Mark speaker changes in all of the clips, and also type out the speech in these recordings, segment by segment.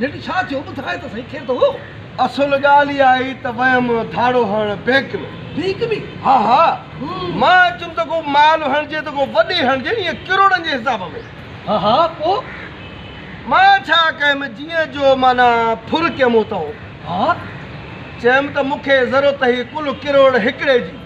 Speaker 1: جيٺ ڇا ٿيو ٻڌاء ته سهي کير ته هو. اصل ڳالهه اها هئي ته ويم ڌاڙو هڻڻ بينڪ ۾. بينڪ ۾؟ ها ها. مان اچم ته ڪو مال هڻجي ته ڪو وڏي هڻجي ايئن ڪروڙن جي حساب ۾. ها ها پوء؟ مان ڇا ڪيم جيئن جو معنيٰ ڦر ڪيم اتئون. ها. چيم ته مون کي ضرورت هئي ڪل ڪروڙ هڪڙي جي.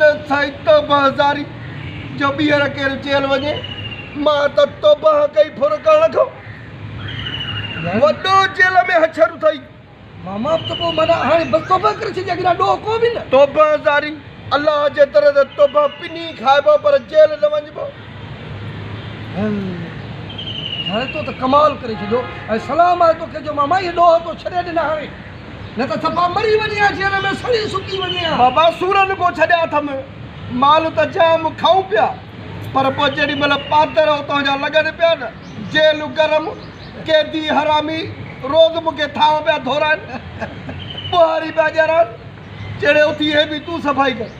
Speaker 1: نه سائين توبه هزاري جو ٻيهر ڪير جيل وڃي مان ته توبه ڪئي ڦر ڪرڻ کان وڏو جيل ۾ هڇر اٿئي. ماما ته پوء معنيٰ هاڻي بس توبه ڪري ڇڏي اڳ ڏانهن ڏوهه ڪو به نه. توبه هزاري الله جي در تي توبه پني کائبو پر جيل نه وڃبو. هل هاڻي تو ته ڪمال ڪري ڇڏيو ۽ سلام آهي توکي جو ماما اهي ڏوهه تو ڇڏي ڏنا هاڻي. نه ته صفا مري وڃي ها جيل ۾ سڙي سڪي وڃي ها. بابا سورن ڪو ڇڏيا اٿم، مال ته جام کائون پيا، پر پوء جيڏي مهل پادر اتان جا لڳن پيا نه، جيل گرم، قيدي حرامي روز مون کي ٿانء پيا ڌورائن، ٻوهاري پيا ڄرائن، چيڙي اٿي هي به تون صفائي ڪر.